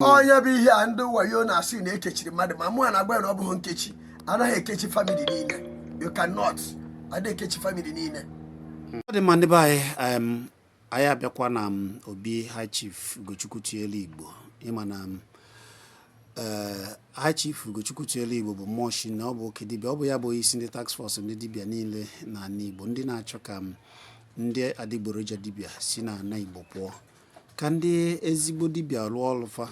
onye bụ ihe a ndị wayo na-asị na ekechiri mmadụ ma mụ a na-agwa ya na ọ bụghị nkechi anaghị ekechi famili niile you cannot adịghị ekechi famili niile ọ dị mma ndị be anyị em, anyị abịakwa na m, obi high chief ugochukwu tubelu igbo ịma na m, eh, high chief ugochukwu tubelu igbo bụ mmụọ shi na ọ bụ oke dibịa ọ bụ ya bụ isi ndị task force ndị dibịa niile na ala igbo ndị na-achọ ka m, ndị adịgboroja dibịa si na ala igbo pụọ ka ndị ezigbo dibịa rụọ ọrụ fa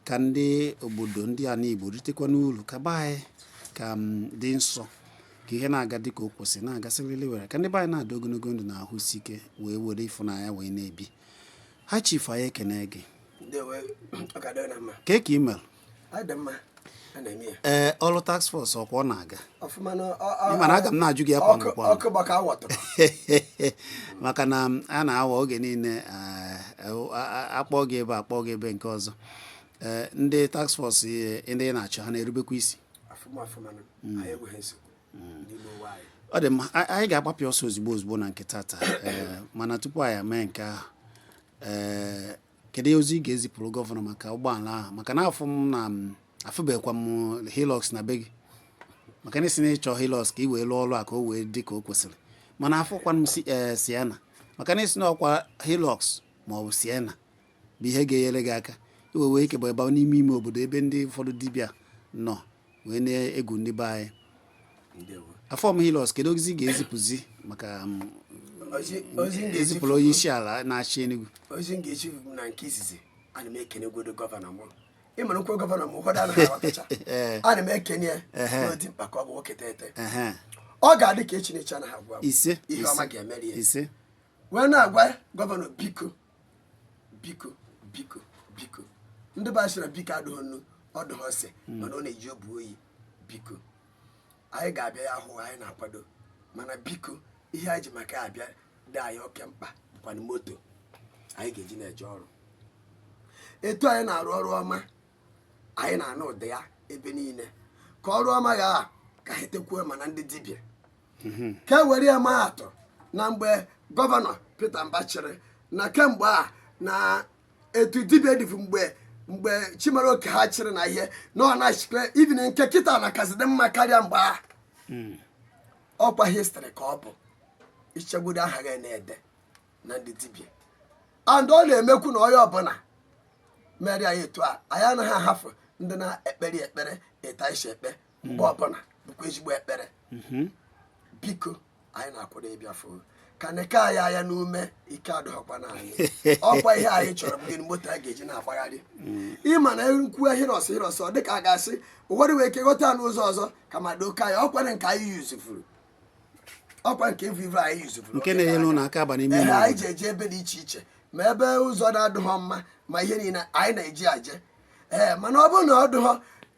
ka ndị obodo ndị ana igbo ritekwa n'uru ka be anyị ka dị nsọ ka ihe na-aga dịka o kwesịrị na-aga siriri werere ka ndị be anyị na-adị ogologo ndụ na ahụ isi ike wee were ịfụnanya wee na-ebi high chief anyị ekene gị Ndewo, ọ ga-adịrị na mma. ka ị mere Ọ dị mma. A na-eme ya. ee ọrụ task force ọkwa ọ na-aga Ọfụma na ọ- ọ- Ị ma na aga m na-ajụ gị ya kwa ọkụ- mgbe kwa mgbe. ọkụ gbaka awọtụrụ. maka na m, a na-awa oge niile eh, eh, a- a- akpọ gị ebe akpọ gị ebe nke ọzọ Eh, ndị task force eh, ndị ị na-achị ha na-erubekwa isi Ọfụma ọfụma na anyị enweghị nsogbu n'ime ụwa anyị. ọ dị mma a- anyị ga-agbapịa ọsọ ozugbo ozugbo na nke tata Eh, mana tupu anyị mee nke ahụ eh, Kedu ozi ị ga-ezipụrụ gọvanọ maka ụgbọala ahụ maka na afụ m na afụbekwa m Hilux na be gị maka na ị sị na ị chọ Hilux ka ị wee lụọ ọrụ a ka o wee dị ka o kwesịrị mana afụkwa m si ee eh, Sienna maka na ị sị na ọkwa Hilux ma ọ bụ Sienna bụ ihe ga-enyere gị aka ị wee nwee ike buba n'ime ime obodo ebe ndị ụfọdụ dibịa nọ wee na-egbu ndị be anyị afụrọ m Hilux kedu ozi ị ga-ezipụzi maka um, ezipụrụ onye isi ala na-achị Enugu ozi m ga-ezi na nke izizi ana m ekene godu gọvanọ m ị mara m kwuo gọvanọ m ụfọdụ anaghị aghọtacha eh. ana m ekene ya na dimkpa ka ọ bụ nwoke teghete ọ ga-adị ka echi na-eche anaghị agwa ihe ọma ga-emere ya wee na-agwa gọvanọ biko biko biko biko ndị be anyị sịrị biko adịghị nnu ọ dịghị ose mana ọ na-eji obu oyi biko anyị ga-abịa ya hụ anyị na-akwado mana biko ihe anyị ji maka ya abịa dị anyị oke mkpa bụkwanụ moto anyị ga-eji na-eje ọrụ etu anyị na-arụ ọrụ ọma anyị na-anụ ude ya ebe niile ka ọrụ ọma ya a ka anyị tekwuo ma na ndị dibịa mhm. ka e were ya maa atụ na mgbe gọvanọ Peter Mbah chịrị na kemgbe a na etu dibịa dịbụ mgbe mgbe chimaroke ha chịrị na ihe na ọ na-achịkwa even nke kịta na kasị dị mma karịa mgbe a hmm. ọkwa history ka ọ bụ ichegbudo aha gị na-ede na ndị dibia and ọ na-emekwu na onye ọbụla mere anyị etu a anyị anaghị ahafụ ndị na-ekpere ekpere ịta isi ekpe mgbe ọbụla bụkwa ezigbo ekpere mhm. biko anyị na-akwado ịbịa fụ ka neke anyị anya n'ume ike adụghọkwa na anyị ọkwa ihe anyị chọrọ bụ gịnị moto a ga-eji na-agbagharị mm. ịma na m kwuo Hilux Hilux ọ dịka a ga-asị ụfọdụ wee ike ghọta n'ụzọ ọzọ ka ma doka ya ọkwa nke anyị useful ọkwa nke vivo anyị useful nke na-enyere ụlọ aka aba n'ime anyị ji eje ebe dị iche iche ma ebe ụzọ na-adịghọ mma ma ihe niile anyị na-eji aje ee mana ọ bụrụ na ọ dụghọ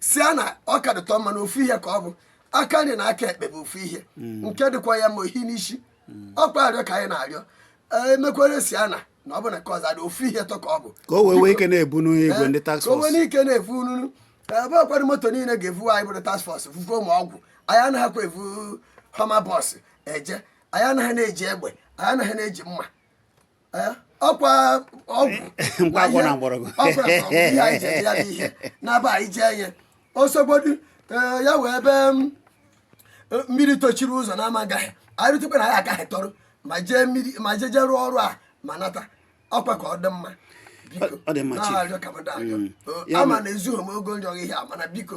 Sienna ọ ka dịtụ mma na ofu ihe ka ọ bụ aka nri na aka ekpe bụ ofu ihe nke dịkwa ya ma ohi n'isi ọkwa arịọ ka anyị na-arịọ ee e mekwere Sienna na ọ bụ na ka ọzọ adị ofu ihe tọ ka ọ bụ ka o wee nwee ike na-ebu n'igwe ndị task ka o nwee force n'ike na-evu ununu ebe ọkwado moto niile ga-evu anyị bụrụ task force vuvuo ma ọgwụ anyị anaghịkwa evu Hummer bus eje anyị anaghị na-eji egbe anyị anaghị na-eji mma ọkwa ọgwụ mkpa akwụkwọ na mgbọrọgwụ ihe anyị ji ya n'ihe na-aba anyị jee ihe ọ sọgbodu e, ya wee ebe e, mmiri tochiri ụzọ na ama agaghị anyị rutekwa na anyị agaghị tọrọ ma jee mmiri ma jee jee rụọ ọrụ a ma nata ọkwa ka ọ dị mma biko na-arịọ ka m arịọ mm. ama m na ezughị m ogo nrịọ ihe a mana biko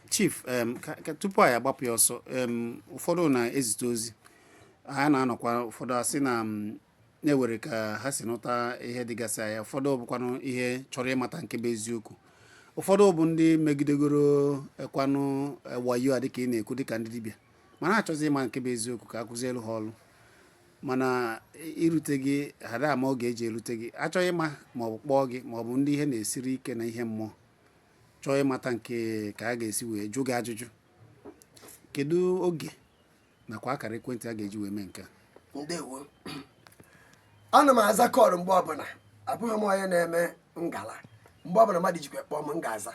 chief em, ka- ka- tupu anyị agbapụ ya ọsọ em, ụfọdụ na-ezite ozi ha na-anọkwa ụfọdụ asị na m, na-ewere ka ha si nụta ihe dịgasị anya ụfọdụ bụkwanụ ihe chọrọ ịmata nke bụ eziokwu ụfọdụ bụ ndị e megidegorokwanụ eh, wayo a dịka ị na-ekwu dịka ndị dibịa mana ha chọzi ịma nke bụ eziokwu ka a kụzielu ha ọrụ mana irute gị ha ada ama oge e ji erute gị achọghị ịma ma ọ bụ kpọọ gị ma ọ bụ ndị ihe na-esiri ike na ihe mmụọ chọọ ịmata nke ka a ga-esi wee jụ gị ajụjụ kedu oge nakwa akara ekwentị a ga-eji wee mee nke a ndewo ana m aza call mgbe ọbụla abụghị m onye na-eme ngala mgbe ọbụla mmadụ jikwa kpọọ m m ga-aza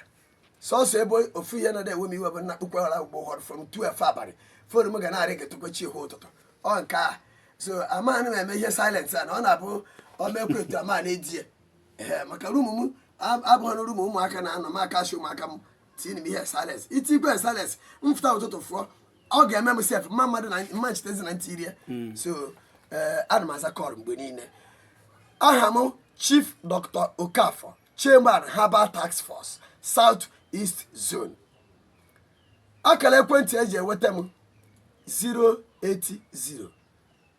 sọsọ ebe ofu ihe na-ewe m iwe bụ m nakpukwe ụra ugbo ụfọdụ from 12 abalị phone m ga na-aring eketukwe chi hụ ụtụtụ ọ nke a so amaghị m eme ihe silent a na ọ na-abụ o mekwe etu a m na-edie ee maka room m abụghị na room ụmụaka na-anọ m ka ashi ụmụaka m tiiri m ihe silence e tikwe silence m fụta ụtụtụ fụọ ọ ga-eme m sef mma mmadụ na mma nchetezi na m tiri ye hmm. so eh, ana m aza call mgbe niile aha m chief dr okafor chairman herbal task force south east zone akara ekwentị eji enweta m 080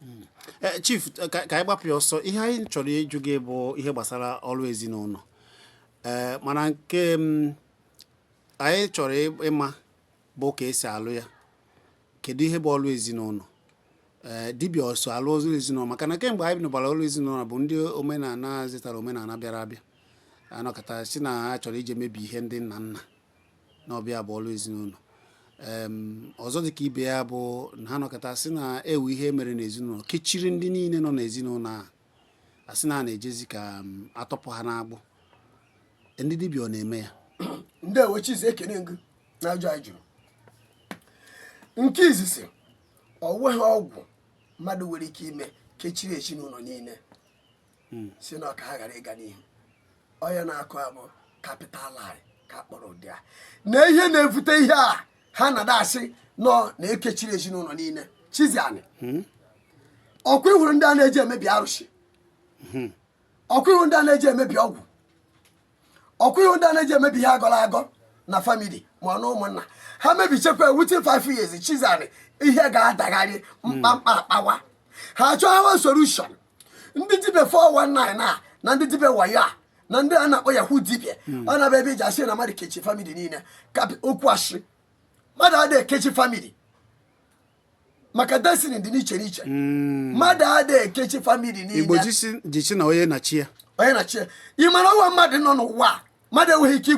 hmm. eh, chief eh, ka anyị gbapụ ya ọsọ ihe anyị chọrọ ịjụ gị bụ ihe gbasara ọrụ ezinụlọ ee eh, mana nke mm, anyị chọrọ ịma bụ ka esi alụ ya kedu ihe bụ ọrụ ezinụlọ ee eh, dibịa ọ so alụ ọrụ ezinụlọ maka na kemgbe anyị nụbara ọrụ ezinụlọ bụ ndị omenala zitara omenala bịara abịa anọkọta si na ha chọrọ ije mebi ihe ndị nna nna na ọ bụ ya bụ ọrụ ezinụlọ ọzọ dị ka ibe ya bụ na ha nọkọta sị na e nwe ihe e mere n'ezinụlọ kechiri ndị niile nọ n'ezinụlọ a a sị na a na-ejezi ka a tọpụ ha n'agbụ ndị dibịa ọ na-eme ya ndewo chizi ekene m gụ na ajụ a ị jụrụ nke izizi ọ nweghị ọgwụ mmadụ nwere ike ime kechiri ezinụlọ niile hmm. sị na ọ ka ha ghara ịga n'ihu onye na-akọ ya bụ capital lie ka a kpọrọ ụdị a na ihe na-ebute ihe a ha na-ada asị na ọ na e kechiri ezinụlọ niile chizi anyị hmm. ọkwa ị hụrụ ndị a na-eje emebi arụsị hmm. ọkwa ị hụrụ ndị a na-eje emebi ọgwụ ọkwa ị hụ ndị a na-eje emebi ihe a gọrọ agọ na family ma ọ na ụmụnna ha mebichakwa within five years chizi anyị ihe ga-adagharị mkpamkpa akpawa ha chọwa solution ndị dibịa 419 a na ndị dibịa wayo a na ndị a na-akpọ yahoo dibịa hmm. ọ na-abịa ebe e ji asị na mmadụ kechi family niile okwu asị mmadụ adịghị ekechi family maka destiny dị n'iche n'iche hmm. mmadụ adịghị ekechi family niile igbo ji sị na onye na chi ya onye na chi ya ị ma na o nwe mmadụ nọ n'ụwa mmadụ enweghị ike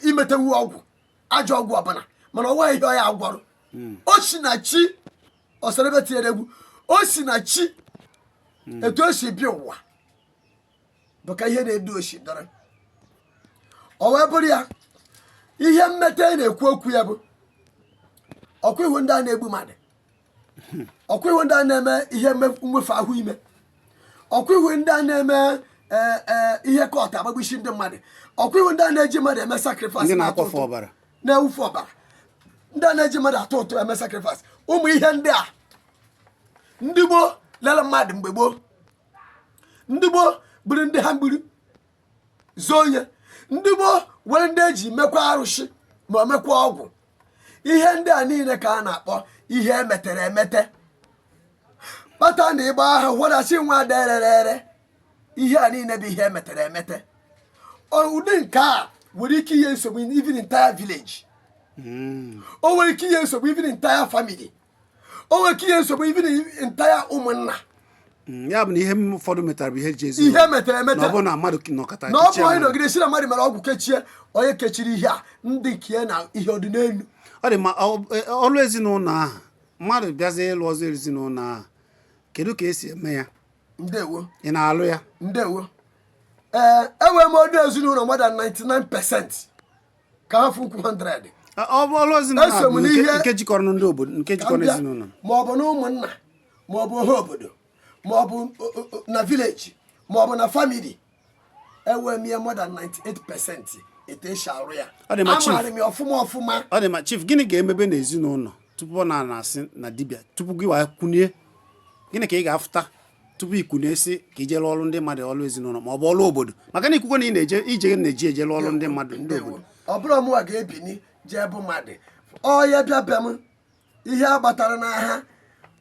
imetanwu ọgwụ ajọ ọgwụ ọbụla mana o nweghị ihe ọ gwọrọ hmm. o si na chi ọsara ebe tinyere egwu o si na chi hmm. etu o si bịa ụwa bụ ka ihe na-edu o si dara o wee bụrụ ya ihe mmeta ị na-ekwu okwu ya bụ ọkwa ị hụ ndị a na-egbu mmadụ ọkwa ị hụ ndị a na-eme ihe mme- mwefu ahọ ime ọkwa ị hụ ndị a na-eme ee, ee, ihe cult agbagbusi ndị mmadụ ọkwa ị hụ ndị a na-eji mmadụ eme sacrifice ndị na-akwafu ọbara na-ewufu ọbara ndị a na-eji mmadụ atụ ụtụ eme sacrifice ụmụ ihe ndị a ndị gboo lere mmadụ mgbe gboo ndị gboo bụrụ ndị ha mgbiri zoo onye ndị gboo nwere ndị e ji mekwa arụsị ma ọ mekwa ọgwụ ihe ndị a niile ka a na-akpọ ihe e metere emete kpata na ị gbaa aha hụrasị nwa dererere ihe a niile bụ ihe e metere emete Ọ- ụdị nke a nwere ike inye nsogbu even entire village o nwere ike inye nsogbu even entire family o nwere ike inye nsogbu even entire ụmụnna Mm, ya bụ na ihe ụfọdụ metara bụ ihe e ji asị ihe e metere emete na ọ bụrọ na mmadụ nọkọta na ọ bụ kechie onye mmadụ. nọgide sị na mmadụ mere ọgwụ kechie onye kechiri ihe a ndị nke ya na ihe ọdịnelu ọ dị mma ọ- e- ọrụ ezinụlọ ahụ mmadụ bịazie ịlụ ọlụ ezinụlọ ahụ kedu ka e si eme ya ndewo ị na-alụ ya ndewo ee enwere m ọrụ ezinụlọ more than 99 percent ka ha fukwu 100 Ọ- ọ bụ ọrụ ezinụlọ Eso m bụ nke- n'ihe- nke jikọrọ ndị obodo nke ka m jikọrọ bịa, ezinụlọ ma ọ bụ na ụmụnna ma ọ bụ ọha obodo ma ọ bụ o- o- o- na village ma ọ bụ na family enwee m ya more than 98 percent etu esi arụ ya Ọ dị ma chief. amaara m ya ọfụma ọfụma ọ dị mma chief gịnị ga-emebe n'ezinụlọ tupu ọ na-asị na dibịa tupu gịwa ekwunye gịnị ka ị ga-afụta tupu i kwunye sị ka i je lụọ ọrụ ndị mmadụ ọrụ ezinụlọ ma ọ bụ ọrụ obodo maka na ikwukwe na ị na-eje ije na-eji eje lụọ ọrụ ndị mmadụ ndị obodo ọ bụrụ mụwa ga-ebini jee bụ mmadụ ọ ya abịa be m ihe a gbatara n'aha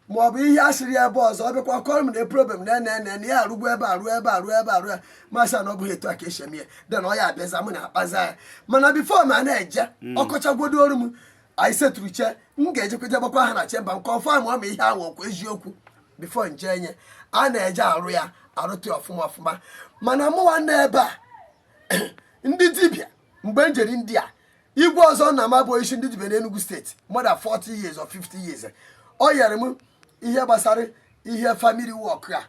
ma ọ bụ ihe a sịrị ya ebe ọzọ ọ bịakwa kọrọ m na problem na ene ene na ya arụgbu ebe arụ ebe arụ ebe arụ ya m asị na ọ bụghị etu a ka esi eme ya then ọ ya abịaza mụ na-akpaza ya mana before m na-eje ọ kọchagwodoro m anyị settle-chaa m ga-ejekweje gbakwa aha na chamber m confirm-ụọ ma ihe ahụ ọ kwa eziokwu before m je enye a na-eje arụ ya arụta ọfụma ọfụma mana mụwa na ebe ndị dibịa mgbe m jere ndị a igwe ọzọ na ama bụ isi ndị dibịa n'Enugu state more than 40 years or 50 years ọ yere m ihe gbasara ihe family work a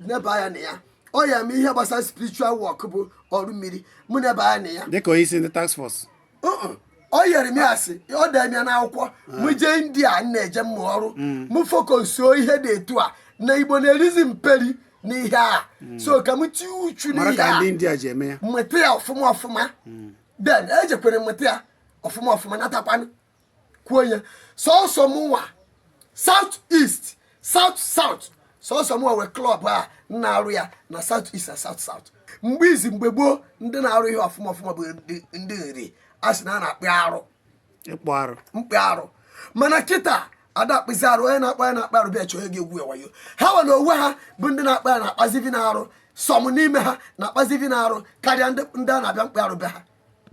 neba anya na ya ọ yere m ihe gbasara spiritual work bụ ọrụ mmiri mụ neba anya na ya dịka onye isi ndị task force Uh-uh. ọ yere m ya asị ọ dee m ya n'akwụkwọ mụ jee India m na-eje mmụ ọrụ mụ focus-uo ihe dị etu a na Igbo na-erizi mperi n'ihe a so ka m tinye uchu mara n'ihe ka a ndị India ji eme ya mụta ya ọfụma ọfụma then ejekwere mụta ya ọfụma ọfụma natakwanụ kwuo ya sọsọ mụnwa south east south south sọsọ mụnwa wee klọb a na-arụ ya na south east na south south mgbe izi mgbe gboo ndị na-arụ ihe ọfụma ọfụma bụ ndị- ndị Nri a sị na a na-akpụ arụ ịkpụ arụ mkpụ arụ mana kịta a da akpụzi arụ onye na-akpa ya na-akpa arụ bịa chọọ ego egwuo ya wayo hanwa na onwe ha bụ ndị na-akpụ ya na-akpazi even arụ some n'ime ha na-akpazi even arụ karịa ndị ndị a na-abịa mkpụ arụ be ha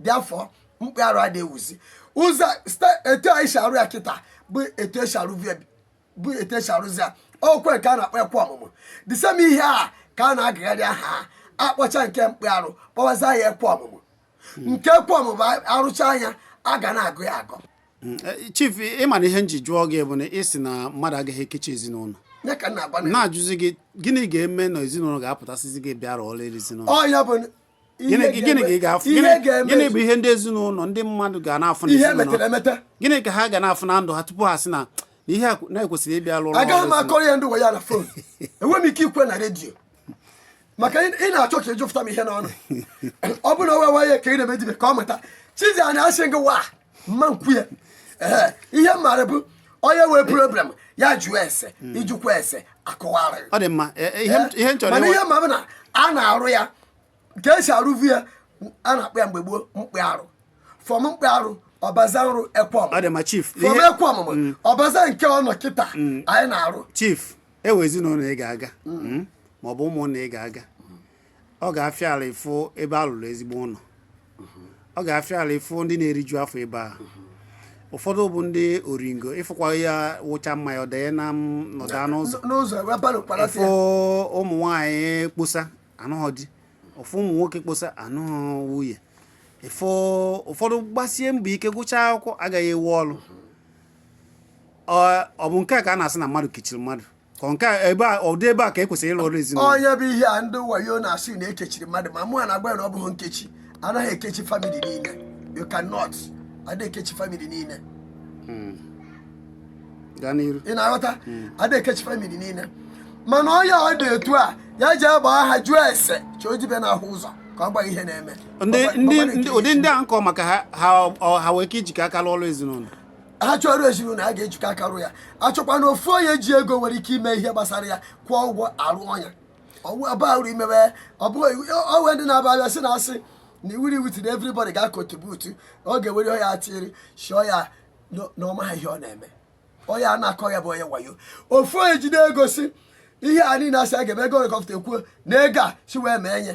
therefore mkpụ arụ ada ewuzi ụzọ etu anyị si arụ ya kịta bụ etu esi arụzi bụ etu esi arụzi ya ọ kwa nke a na-akpọ ịkwa ọmụmụ the same ihe a ka a na-agụgharị aha a kpọcha nke mkpụ arụ kpọwaza ya ịkwa ọmụmụ nke ịkwa ọmụmụ a rụcha ya a ga na-agụ ya agụ mm, e, chief ị ma na ihe m ji jụọ gị bụ na ị sị na mmadụ agaghị ekechi ezinụlọ na-ajụzi gị gịnị ga-eme na ezinụlọ ga-apụta sịzị gị bịara ọlụ ezinụlọ gịnị gịnị ka ị ga-afụ Ihe Gịnị- ga-eme- gịnị bụ ihe ndị ezinụlọ ndị mmadụ ga na-afụ na ihe ezinụlọ? metere emete gịnị ka ha ga na-afụ na ndụ ha tupu ha sị na na ihe a kwe- na e kwesịrị ịbịa lụrụ agaghị m ọrụ akọrọ ya ndị ụwa ya na phone enweghị m ike ikwu ya na radio maka ị ị na-achọ ka ịjụpụta m ihe n'ọnụ ọ bụrụ na ọ wawa ya ka ị na-eme dibịa ka ọ mụta chizi a na-asị gịwa mma nkwu ya Ee, ihe m maara bụ onye wee problem ya jụọ ese ị jụkwa ese a kọwara ọ dị mma e- e- ihe m- ihe m chọrọ mana ịwa- ihe ma bụ na a na-arụ ya ka esi arụvu ya a na-akpọ ya mgbe gboo mkpị arụ fọm mkpị arụ ọbaza nrụ ekwe ọ dị ọmụmụ mma chief fọm ihe- ekwe ọmụmụ ọbaza nke ọnọ kịta anyị na-arụ chief ewe ezinụlọ ị ga-aga mm, maọbụ ụmụnna ị ga-aga ọ ga-afịa arụ ịfụ ebe a rụrụ ezigbo ụlọ ọ ga-afịa arụ ịfụ ndị na-eriju afọ ebe a ụfọdụ bụ ndị oringo ị fụkwa ya wụcha mmanya ọ danye na m- nọda n'ụzọ n'ụzọ wee bara ụkpara ị fụ ụmụ nwanyị kposa anụghọ di ị fụ ụmụ nwoke kposa anụghọ nwunye ị fụ ụfọdụ gbasie mbọ ike gụchaa akwụkwọ agaghị ewe ọrụ Ọ- ọ bụ nke a ka a na-asị na mmadụ kechiri mmadụ Ọ nke a ebe a ụdị ebe a ka e kwesịrị ịrụ ọrụ ezinụlọ ọ ya bụ ihe a ndị wayo na-asị na e kechiri mmadụ ma mụ a na-agwa ya na ọ bụghị nkechi a naghị ekechi famili niile you cannot ada ekechi famili niile gaa n'iru ị na-aghọta ada ekechi famili niile mana onye ọ dị etu a ya je gbaa aha jụọ ese chọọ dibịa na-ahụ ụzọ ka ọ gwa ihe na-eme ndị Ọ gwa- ndị ọ gwa na ndị- nke ụdị ndị a m kọ maka ha ha ọ- ha wee ike ijikọ aka lụọ ọrụ ezinụlọ ha chọrọ ezinụlọ a ga-ejikọ aka rụọ ya achọkwa na ofu onye ji ego nwere ike ime ihe gbasara ya kwụọ ụgwọ a rụọ ya ọ bụrụ imebe ọ we ndị na-aba abịa sị na asị na iwuri iwu tiri everybody ga-acontribute ọ ga-ewere ọya atiri shọ ya na ọ maha ihe ọ na-eme onye a na-akọ ya bụ onye wayo ofu onye jide ego sị ihe a niile a sị a ga-eme ego ole ka ọ pụta e kwuo na ego a si wee mee ya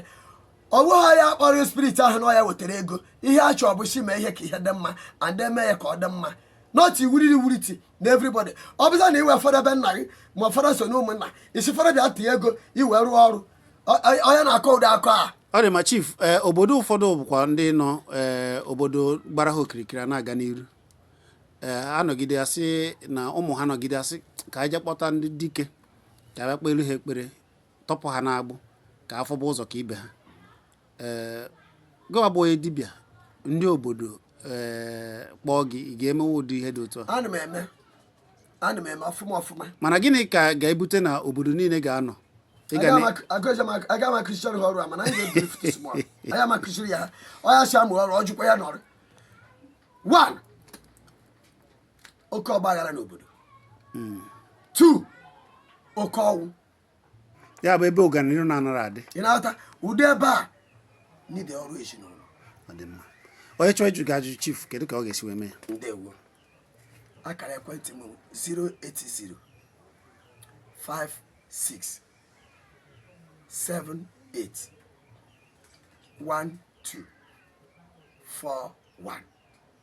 ọ bụghị ya kpọrọ spirit ahụ na ọ ya wetara ego ihe a chọọ bụ sị mee ihe ka ihe dị mma and e mee ya ka ọ dị mma not iwuriri wuriti na everybody ọ bụza na i we fọdụ ebe nna gị ma fọdụ so na ụmụnna ị sị fọdụ bịa tinye ego i wee rụọ ọrụ onye na-akọ ụdị akọ a ọ dị ma chief eh, obodo ụfọdụ bụkwa ndị nọ eh, obodo gbara ha okirikiri na-aga n'iru eh, a nọgide a sị na ụmụ ha nọgide asị ka anyị je kpọta ndị dike ka a bịa kpelu ha ekpere tọpụ ha n'agbụ ka ha fụba ụzọ ka ibe ha ee gịwa bụ onye dibịa ndị obodo ee kpọọ gị ị ga-emewe ụdị ihe dị otu a ana m eme ana m eme ọfụma ọfụma mana gịnị ka ga-ebute na obodo niile ga-anọ Ị ga na- aga m akụziri ha ọrụ a mana anyị ga-ebiri fụtụ small aga m akụziri ya ha ọ ya si amụ ọrụ ọ jụkwa ya n'ọrụ one oke ọgbaghara n'obodo two oke ọnwụ ya bụ ebe ọganihu na-anara adị ị na-aghọta ụdị ebe a need ọrụ ezinụlọ ọ dị mma onye chọọ ịjụ gị ajụjụ chief kedu ka ọ ga-esi wee mee ya ndewo akara ekwentị m 080 56 78 12 41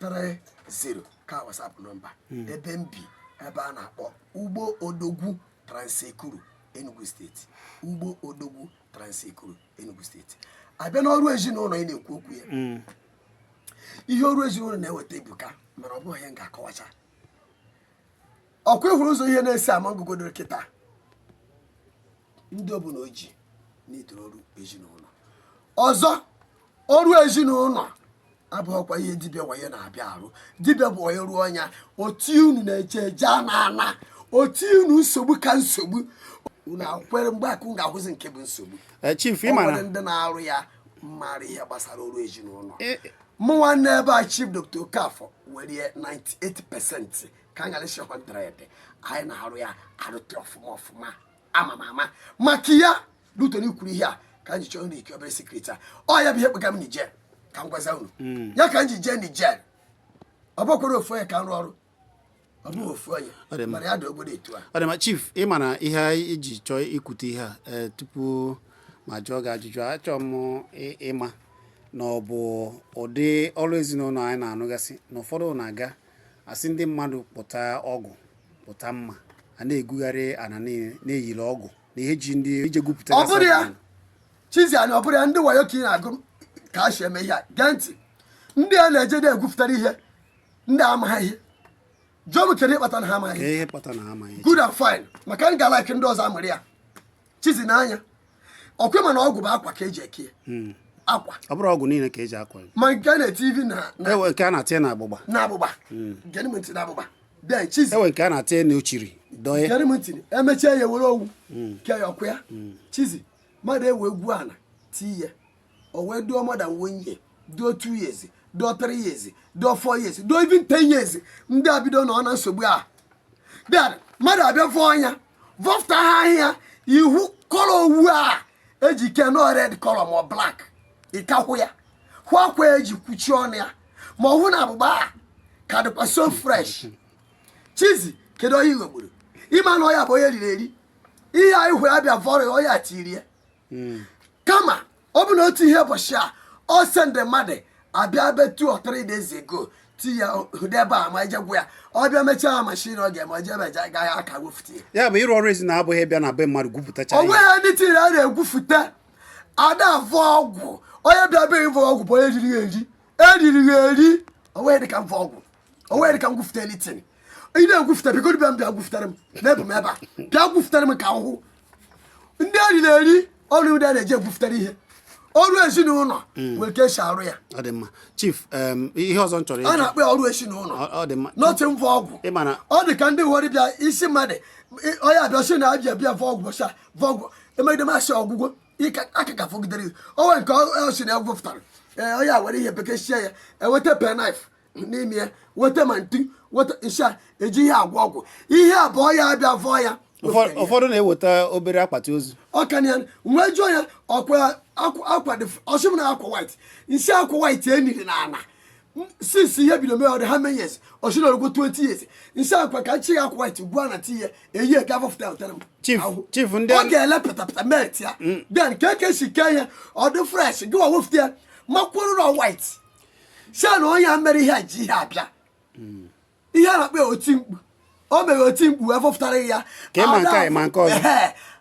30 ka WhatsApp nọmba hmm. ebe m bi ebe a na-akpọ Ugbo Odogwu Trans-Ekulu Enugu steeti Ugbo Odogwu Trans-Ekulu Enugu steeti a bịa n'ọrụ ezinụlọ ị na-ekwu okwu ya hmm. ihe ọrụ ezinụlọ na-eweta ebuka mana ọ bụghị ihe m ga-akọwacha ọkwa ị hụrụ ụzọ ihe na-esi ama ngụgodoro kịta ndị ọbụla oji na-etoro ọrụ ezinụlọ ọzọ ọrụ ezinụlọ abụghịkwa ihe dibịa wayo na-abịa arụ dibịa bụ onye rụọ ọnya o tie unu na eje eje ana ana o tie unu nsogbu ka nsogbu unu akwere mgbe akụ ga-ahụzi nke bụ nsogbu Eh, chief ị ọ nwere mara ndị na-arụ ya mara ihe gbasara ọrụ ezinụlọ Eh, mụ nwanne ebe a Chief Dr Okafọ were 98 pesenti ka anyị ghara ịsị ọkwa 100 anyị na-arụ ya arụta ọfụma ọfụma ama m ama maka ya Luton kwuru ihe a ka anyị chọọ nri ike obere sekreti a ọ ya bụ ihe kpọga m Niger ka m gwaza unu hmm. ya ka m ji jee Niger ọ bụkwarọ ofu onye ka m rụọ ọrụ ọ bụghị ofu onye mana ya dị obodo etu a ọ dị ma chief ị ma na ihe anyị ji chọọ ikwute ihe a eh, tupu m ajụọ gị ajụjụ achọọ m ịma na ọ bụ ụdị ọrụ ezinụlọ anyị na-anụgasị na ụfọdụ na-aga Asị ndị mmadụ pụta ọgụ pụta mma a na-egwugharị ana na e liri ọgwụ na ihe ji ndị ije gwupụta ọ bụrọ ya Chizi anyị ọ bụrọ ya ndị wayo ka ị na-agụ ka a si eme ihe a gee ntị ndị a na-eje na-egwupụtara ihe ndị amaghị ihe jụọ m kedu ihe kpata na ha amaghị ihe good and fine maka m ga-alaiki ndị ọzọ amụrụ ya Chizi n'anya ọkwa ị ma na ọgwụ bụ akwa ka eji eke ya hmm. akwa ọ bụrọ ọgwụ niile ka eji akwa ma nke a na-eti ivi na e nwee nke a na-etinye na agbụgba na agbụgba hmm. gere m ntị na agbụgba bịa Chizi e nwee nke a na-etinye na ochiri dọye gere m ntị emechaa ya were owu hmm. kee ya ọkwa ya Chizi mmadụ ewee gwuo ana tii ya o wee dụọ more than one year dụọ two years dụọ three years dụọ four years dụọ even ten years ndị a bido nọ na nsogbu a then mmadụ abịa vọọ ana vọpụta ha ahịa ị hụ kọlọ owu a eji ke nọ red kọlọ ma black ị ka hụ ya hụ akwa eji kwuchie ọnụ ya ma ọ hụ na agbụgba a ka dịkwa so fresh Chizi kedu onye ị ghọgburu ị ma na ọ ya bụ onye eriri eri ihe anyị hụ ya bịa vọrọ ọ ya tiri ya hmm. kama ọ bụ na o tighị ya ụbọchị a ọ sendị mmadụ abịa be two or three days ago ti ya debe ama e ji eje egwu ya ọ bịa mechaa ha mashin ọ ga-eme oje meje agaghị aka gwufute ya bụ ịrụ ọrụ ezinụlọ abụghị ịbịa na be mmadụ gwupụtacha o nweghị ndị tiri a na-egwufute ada avọ ọgwụ onye bịa be ịvọ ọgwụ bụ onye jiri ya eri eriri ya eri o nweghị dịka mvọ ọgwụ o nwere ka m gwufute anything ị na-egwufute biko dibịa m bịa gwufutara m na-egbu m ebe a bịa gwufutara m ka ahụhụ ndị eriri eri ọrụ ndị a na-eji egwufutara ihe ọrụ ezinụlọ hmm. nwere ka esi arụ ya ọ dị mma chief ihe ọzọ m chọrọ a na-akpọ ya ọrụ ezinụlọ ọ dị mma n'otu mvọ ọgwụ ọ dị ka ndị nwere bịa isi mmadụ onye abịa sị na abịa bịa vọ ọgwụ sa vọ ọgwụ emegide masị ọgwụgwọ aka ka fọgidere onwe nke ọ sị na ya gwupụtara onye a were ihe bekee sie ya eweta penknife n'ime ya weta ma ntu weta nsha eji ihe agwọ ọgwụ ihe abụọ ya abịa vọọ ya Ụfọ- ụfọdụ na-eweta obere akpati ozu ọkanya nwee jụọ ya ọkwa akwa akwa dị ọ sị m na akwa white m sị akwa white e niri n'ana since ihe bido mee ọ dị how many years ọ sị na o rugbo 20 years m sị akwa ka nchi ya akwa white gwa na ti ya eyi eke avọfụta ụtara m Chief, ahụ. chief, ndị ọ a- ga-ele pịtapịta met ya then ka eke si kee ya ọ dị fresh gị wa wefụta ya makwụrụ na white sị na onye a mere ihe a ji ihe a bịa hmm. ihe a na-akpọ oti mkpu o mere oti mkpu wee vọpụtara ya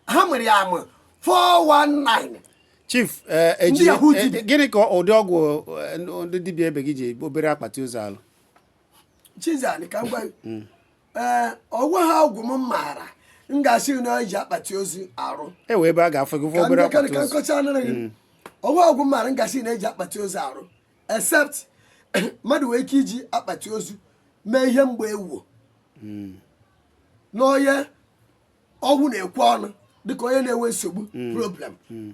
ha nwere ya amụ 419 chief eh, eh, eh, gịnị ka ụdị ọgwụ ndị dibịa ebe gị ji obere akpati ozu alụ chizani ka m gwa hmm. ee o nweha ọgwụ m maara m ga-asị na eji akpati ozu arụ e wee ebe a ga-afụ gị fụ ka obere ndị akpati ka ozu nkọcha anara gị o nweha ọgwụ m maara m ga-asị na eji akpati ozu arụ except mmadụ nwere ike iji akpati ozu mee ihe mgbanwo n'onye ọnwụ na-ekwe ọnụ dịka onye na-enwe nsogbu hmm. problem hmm.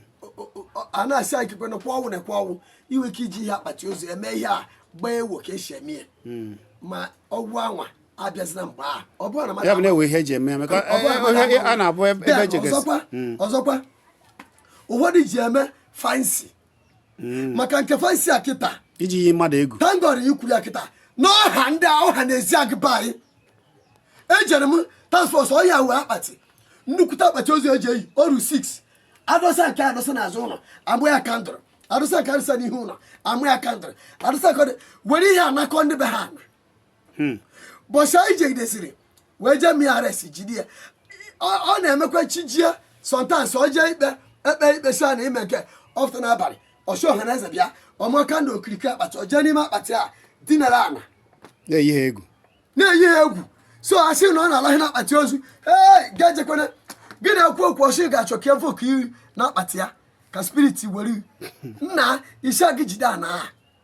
a na-asị anyị kekwe nakwa ọnwụ na-ekwe ọnwụ i nwee ike iji ihe akpati ozu eme ihe mgbanwo ka esi eme ya hmm. ma ọgwụ anwa abịazina mgbe a ọ bụrụ na mmadụ na-ewe ihe eji eme a na-abụ ebe ọzọkwa ụfọdụ ji eme fancy hmm. maka nke fancy a kịta iji yi mmadụ egwu thank God i kwuru ya kịta n'ọha ndị ọha na eze agụba anyị ejere m task force ọhịa wee akpati nnukwute akpati ozu eji eyi oru 6 adọsa nke adọsa n'azụ ụlọ amụ ya candle adọsa nke adọsa n'ihu ụlọ amụ ya candle adọsa nke were ihe anakọ ndị be ha hmm. bọsị anyị jegidesiri wee jee mee arrest jide ya ọ na-emekwa chi jie sometimes ọ jee ikpe ekpe ikpe si na ime nke ọ fụta n'abalị ọ sị ọha na eze bịa ọ mụọ candle okirikiri akpati ọ jee n'ime akpati a dinara ana na-eyi ha egwu na-eyi ha egwu so a sị na ọ na-alahị na akpati ozu ee ga-ejekwana gị na-ekwu okwu ọ sị ga-achọ ka efe oke iri na akpati ya ka spiriti were nna isi gị jide ana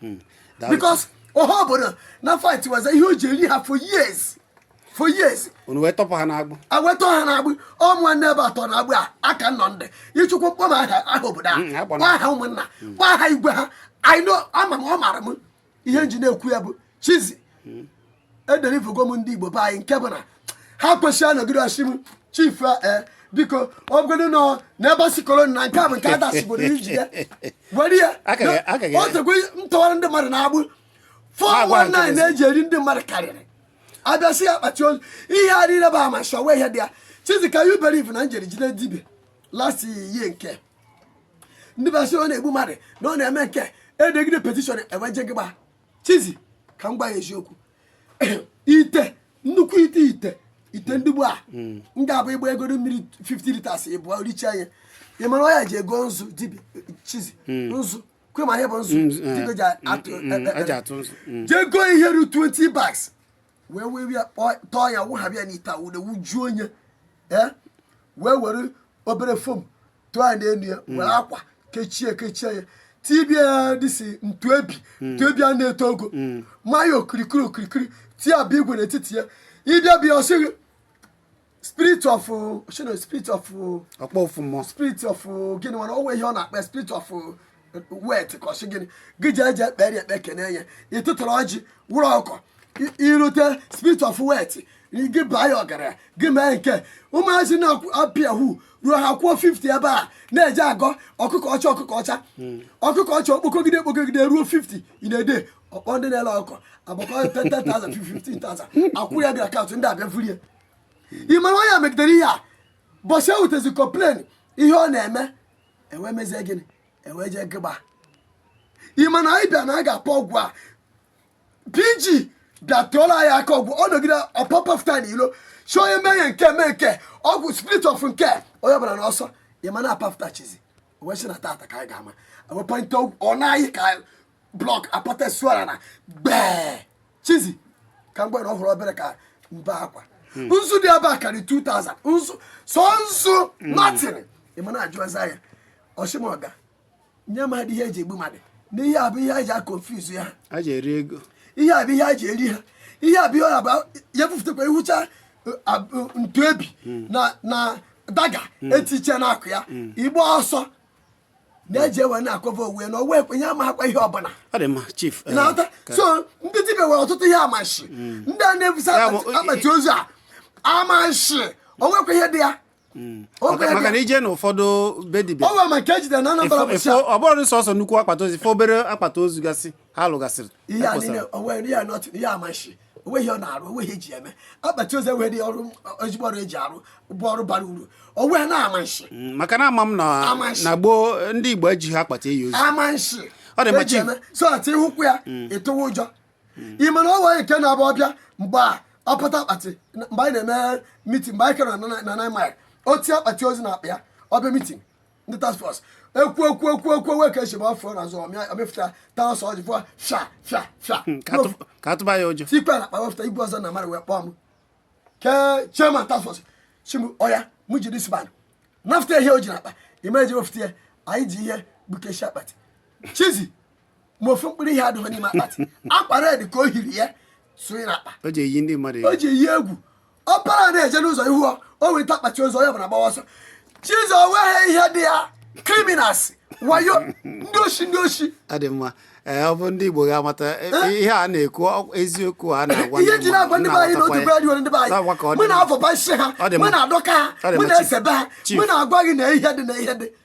hmm. because ọha obodo na fight waza ihe o ji eri ha for years for years unu wee tọpụ ha n'agbụ e wee tọọ ha n'agbụ ọ nwanne ebe atọ n'agbụ a aka nọ ndị ịchụkwu kpọọ m aha aha obodo a hmm, kpọ aha ụmụnna kpọ aha igwe ha anyị ama m ọ mara m ihe m ji na-ekwu ya bụ chizi hmm. edeliverugo m ndị igbo be anyị nke bụ na ha kwesịrị anọgide ọ sị m chief e eh, biko ọ bụgodị nọ n'ebe si kolon na nke a bụ nke adasigboro iji ya were ya o tegwe m tọwara ndị mmadụ n'agbụ 419 na-eji eri ndị mmadụ karịrị a bịa sị ya akpati ozu ihe a niile bụ ama shọwa ihe dị ya chizi ka you believe na m jere jide dibịa last year nke ndị be ha sị ọ na-egbu mmadụ na ọ na-eme nke e degide petition e wee jee gịgba chizi ka m gwa ya eziokwu ite nnukwu ite ite ite ndị gboo a m ga-abụ ịgba ego mmiri 50 litres ịbụọ richa ya ị mara ọ ya-eje ego nzu dibịa chizi nzu kwe ma ihe bụ nzu Nzu, eh. dibịa ji atụ Mm, mm, ọ ji atụ nzu. Mm. jee goo ihe ruru 20 bags wee wee ya kpọọ- tọọ ya wụghabịa n'ite a wụde wụjuo onye ee wee were obere foam tụọ ya n'elu ya hmm. were akwa kechie kechie ya tibie ya isi ntu ebi hmm. ntu ebi a na-eto ogo hmm. ma ya okirikiri okirikiri tie abụ igwe n'etiti ya ị bịa bịa ọ sị gị spirit of shino spirit of ọkpọ ofu mmụọ spirit of gịnị mana o nwe ihe ọ na-akpọ spirit of wealth ka ọ sị gịnị gị ji eji ekpere ekpe kene ya ị tụtụrụ ọjị wụrụ ọkọ i rute spirit of wealth gị baa ya ọgaranya gị mee nke ụmụazị na-apị yahoo ruo ha kwuo 50 ebe a na-eje ego ọkụkọ ọcha ọkụkọ ọcha hmm. ọkụkọ ọcha okpokogide okpokogide ruo 50 in a day ọkpọ ndị na-ele ọkụkọ agbakọ 10,000 15,000 akwụ ya bịa account ndị a bịa vurie ị mara onye megidere ihe a ụbọsị e wutezi complain ihe ọ na-eme e wee mezie gịnị e wee jee gịgba ị ma na anyị bịa na a ga-apụ ọgwụ a pg bịa tụọla anyị aka ọgwụ ọ nọgide ọ pọpụta n'ilo sị onye mee ya nke mee nke ọgwụ spirit of nke onye ọbụla n'ọsọ ị ma na a papụta chizi wee sị na tata ka anyị ga-ama wepụta ọ na-anyị ka block a pata sụara ana gbee chizi ka mgbe na ọ fọrọ obere ka m bee akwa hmm. nzu dị ebe a karị 2000 nzu sọ nzu hmm. nothing ị ma na a jụọza ya ọ shị ma ọ ga-enye mmadụ ihe e ji egbu mmadụ na ihe a bụ ihe a ji aconfuse ha ihe a bụ ihe a ji eri ha ihe a bụ ihe a bụ ya bufụtakwa ihucha ntu ebi hmm. na daga e tiche n'akụkụ ya ị gbaa ọsọ na-eji wee na-akọva onwe ya na onwe ekwe ya amaghakwa ihe ọbụla ọ dị mma chief eh, na-aghọta ka- so ndị dibịa nwere ọtụtụ ihe amashi ndị a na-ebusa Ya bụ, akpati- akpati ozu a amashi o nwekwa ihe dị ya O nwekwa maka ihe maka dị na ya. ije na ụfọdụ be dibịa o nwere ma nke e jidere na Anambra Ifo- bụchi ifo- ọ bụrọ sọsọ nnukwu akpati ozu ife obere akpati ozu gasị ha lụgasịrị ihe a ekposara. niile o nwe ihe a nọtụ ihe amashi o nweghị ihe ọ na-arụ o nweghị ihe e ji eme akpati ozu enweghị dị ọrụ ezigbo ọrụ e ji arụ bụ ọrụ bara uru onwe na amanshi mm, maka na ama m na gboo ndị Igbo ejighị akpati eni ozu amanshi ọ dị mma chief so that ị hụkwu ya mm. ị tụwa ụjọ mm. ị ma na o nwe nke na-abụ ọ bịa mgbe a ọpụta akpati mgbe anyị na-eme mitin mgbe anyị kere na nine mile o tie akpati ozu na akpa ya ọ bịa mitin ndị task force ekwu ekwu ekwu ekwu wee ka echebe afọ na azụ ọ mịa ọ mịfụta taa ọsọ ọjị fụa fịa fịa fịa Hmm, ka atụ- ka a tụba ya ụjọ tikwa na akpa wepụta igwe ọzọ na mmadụ wee kpọọ m ke chairman task force sị m oya mụ jide dis man nafụta ihe o ji n'akpa ime eji wepụta ya anyị ji ihe gbukashị akpati Jesus ma ofu mkpụrụ ihe adịghị n'ime akpati akwa red ka o hiri ya sonye n'akpa o ji eyi ndị mmadụ o egwu ji eyi egwu ọ para na-eje n'ụzọ ị hụ ọ o weta akpati ozu onye ọbụla gbawa ọsọ Jesus o nweghị ihe dị ya criminals wayo ndị oshi ndị oshi ọ dị mma ee ọ bụ ndị igbo ga-amata e, ihe a na-ekwu ọ- eziokwu a na-agwa ihe ji na-agwa ndị be anyị na otu be anyị ndị be anyị Na-agwa ka ọ dị mụ mma. na-afọba isi ha Ọ dị mụ mma. na-adọka ha Ọ dị mụ mma, na-esebe ha Chief. mụ na-agwa gị na ihe dị na ihe dị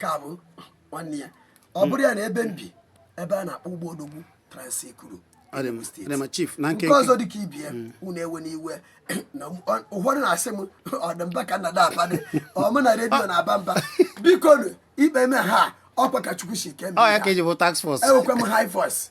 ka bụ nwanne ya ọ bụrụ ya na ebe m bi ebe a na-akpọ ugbo odogwu trans-ekulu nke ọzọ dị ka ibe ya mm. unu ewena iwe na ụfọdụ na-asị m ọ dị mba ka nna dabadị ọ mụ na redio ah. na-aba mba biko ikpe me ha ọkwa ka chukwu si kee enwekwa m high voice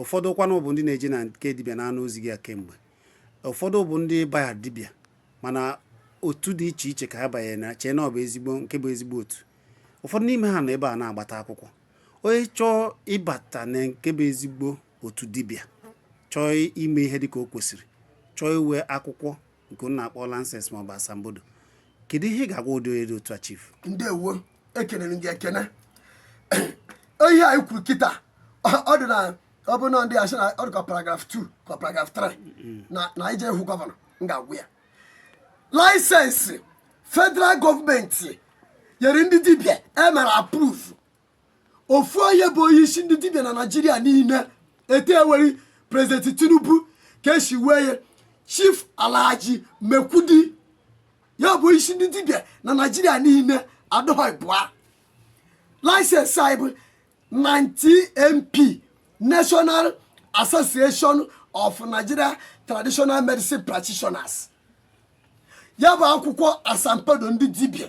ụfọdụ kwanụ bụ ndị na-eje na nke dibịa na-anụ ozi gị a kemgbe ụfọdụ bụ ndị baya dibịa mana otu dị iche iche ka ha banyere na-eche na ọ bụ ezigbo nke bụ ezigbo otu ụfọdụ n'ime ha nọ ebe a na-agbata akwụkwọ onye chọọ ịbata na nke bụ ezigbo otu dibịa chọọ ime ihe dị ka o kwesịrị chọọ inwe akwụkwọ nke unu na-akpọ laịsensị maọbụ asambodo kedu ihe ị ga-agwa ụdị onye dị otu a chief ndewo ekelere gị ekene ihe anyị kwuru kịta ọ- ọ dị na ọ bụ na ndị a sị na ọ dị ka paragraf 2 ka paragraf 3 na na anyị jee hụ gọvanọ m ga-agwụ ya laịsensị federal gọọmenti nyere ndị dibịa e mere approve ofu onye bụ onye isi ndị dibịa na naijiria niile etu e nwere prezidenti tinubu ka e si nwee ya chief alhaji maikudi ya bụ isi ndị dibịa na naijiria niile adịghị ịbụa laịsensị anyị bụ NANTMP national association of nigeria traditional medicine practitioners ya bụ akwụkwọ asambodo ndị dibịa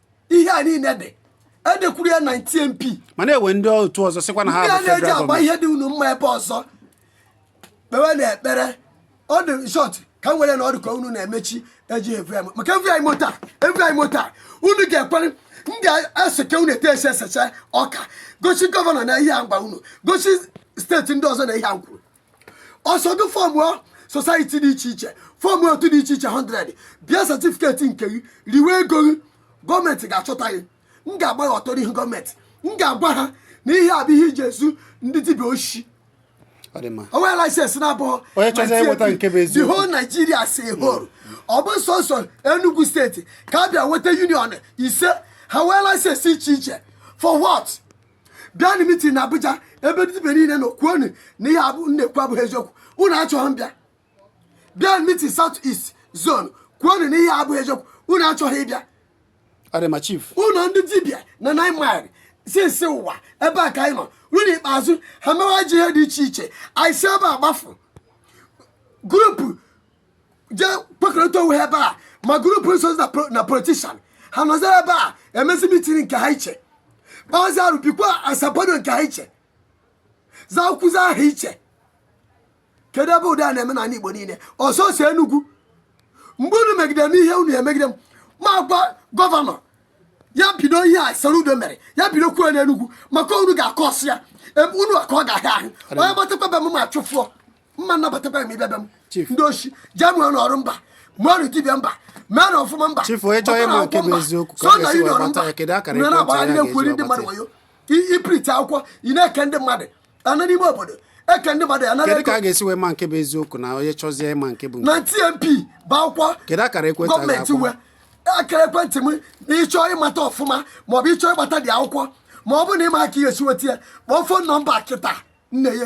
ihe a niile dị edekwuru ya NANTMP mana e nwee ndị otu ọzọ sịkwa na ha ndị a bụ na-eji federal agba gọọmenti ihe dị unu mma ebe ọzọ kpewe na ekpere ọ dị short ka m were nọdụ ka unu na-emechi eji evu ya maka evu anyị mota evu anyị mota unu ga-ekwere m ga-eseke unu etu esi esecha ọka gosi gọvanọ na ihe a m gwa unu gosi steeti ndị ọzọ na ihe a m kwuru ọ sọ gị fọmụọ society dị iche iche fọmụọ otu dị iche iche 100 bie satifiketi nke gị riwe ego gị gọọmenti ga-achọta gị m ga-agba gị ọtọ n'ihu gọọmenti m ga-agwa ha na ihe a bụ ihe i ji ezu ndị dibịa oshi o nwee laisensị na-abụghọ the whole Nigeria as a whole ọ bụ sọsọ Enugu steeti ka a bịa nweta union ise ha nwee laisensị iche iche for what bịanụ mitin na Abuja ebe dibịa niile nọ kwuonụ na ihe a m na-ekwu abụghị eziokwu unu achọghị ịbịa bịanụ mitin South East zone kwuonụ na ihe a abụghị eziokwu unu achọghị ịbịa ana m achị unu ndị dibịa na nine mile since ụwa ebe a ka anyị nọ ruo n'ikpeazụ ha mewazi ihe dị iche iche anyị si ebe a gbafu group jee kwekọrịta onwe ha ebe a ma group so na politician ha nọzi ebe a emezi mitin nke ha iche kpazi arụ bikwa asambodo nke ha iche zakwazi aha iche kedu ebe ụdị a na-eme n'ala Igbo niile ọ sọsọ Enugwu mgbe unu megide m ihe unu emegide m m agwa gọvanọ ya bido ihe a Soludo mere ya bidokwuo n'Enugwu maka unu ga-akọ ọsụ ya ebe unu ka ọ ga-ahịa ahụ onye gbatakwa be m m achụfụọ m ma nabatakwa m ịbịa be m ndị oshi jee mụọnụ ọrụ mba mụọnụ dibịa mba meenụ ọfụma mba sọ na ị nọrọ na-agbara ndị na-ekwuri ndị mmadụ wayo ị printi akwụkwọ ị na-eke ndị mmadụ ana n'ime obodo eke ndị mmadụ anara ego kedu ka a ga-esi wee ma nke bụ eziokwu na onye chọzie ịma nke bụ NANTMP bụ akwụkwọ gọọmenti were akara ekwentị m na ịchọọ ịmata ọfụma maọbụ ịchọọ ịgbata dị akwụkwọ ma ọ bụrụ na ịma aka ihe esi weta ya kpọọ fon nọmba kịta nne ya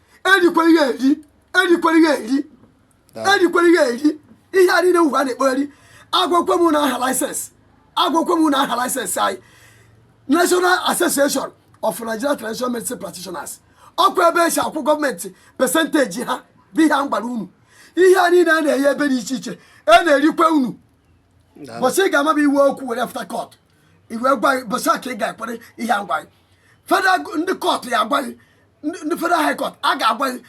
erikwere ya eri erikwere ya eri erikwere ya eri ihe a niile ugbu a na-ekpogharị agwakwa m unu aha laịsensị agwakwa m unu aha laịsensị anyị national association of nigeria traditional medicine practitioners ọkwa ebe esi akwụ gọọmenti pesentaji ha bụ ihe a m gwara unu ihe a niile a na-enye ebe dị iche iche a na-erikwa unu ụbọchị ị ga-amaba iwu okwu were fụta kọt e wee gwa gị ụbọsị a ka ị ga-ekwere ihe a m gwa gị federal ndị kọtụ ga-agwa gị ndị federal high court a ga-agwa gị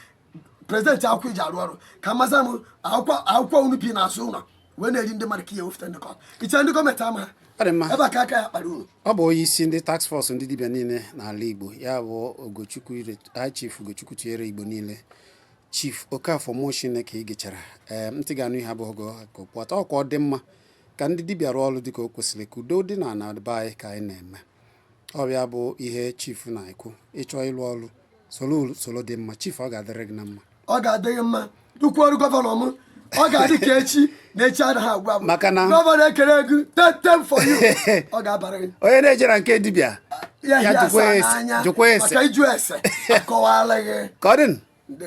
presenti akwụkwọ i ji arụ ọrụ ka maza m akwụkwọ unu bi n'azụ ụlọ wee na-eri ndị mmadụ ka i wefụta ndị kọtụ iche ndị gọọmenti ama ha ọ bụ onye isi ndị task force ndị dibịa niile n'ala Igbo ya bụ Ogochukwu High Chief Ogochukwu tinyere Igbo niile Chief Okafor Mo Chineke igechara ee ntị ga-anụ ihe abụghị gị ka ọ pụta ọkwa ọ dị mma ka ndị dibịa rụọ ọrụ dịka o kwesịrị ka udo dị na na be anyị ka anyị na-eme ọbịa bụ ihe chief na-ekwu ị chọọ ịrụ ọrụ soro usoro dị mma chief ọ ga-adịrị gị na mma ọ ga-adị gị mma dukwu ọrụ gọvanọ m ọ ga-adị ka echi na echi anaghị agwụ agwụ Maka na- gọvanọ ekele gị tetem for you ọ ga-abara gị onye na-eje na nke dibịa ya Ya hie jụkwa asaa ese- n'anya jụkwa ese. maka ịjụ ese akọwala gị ka ọ dị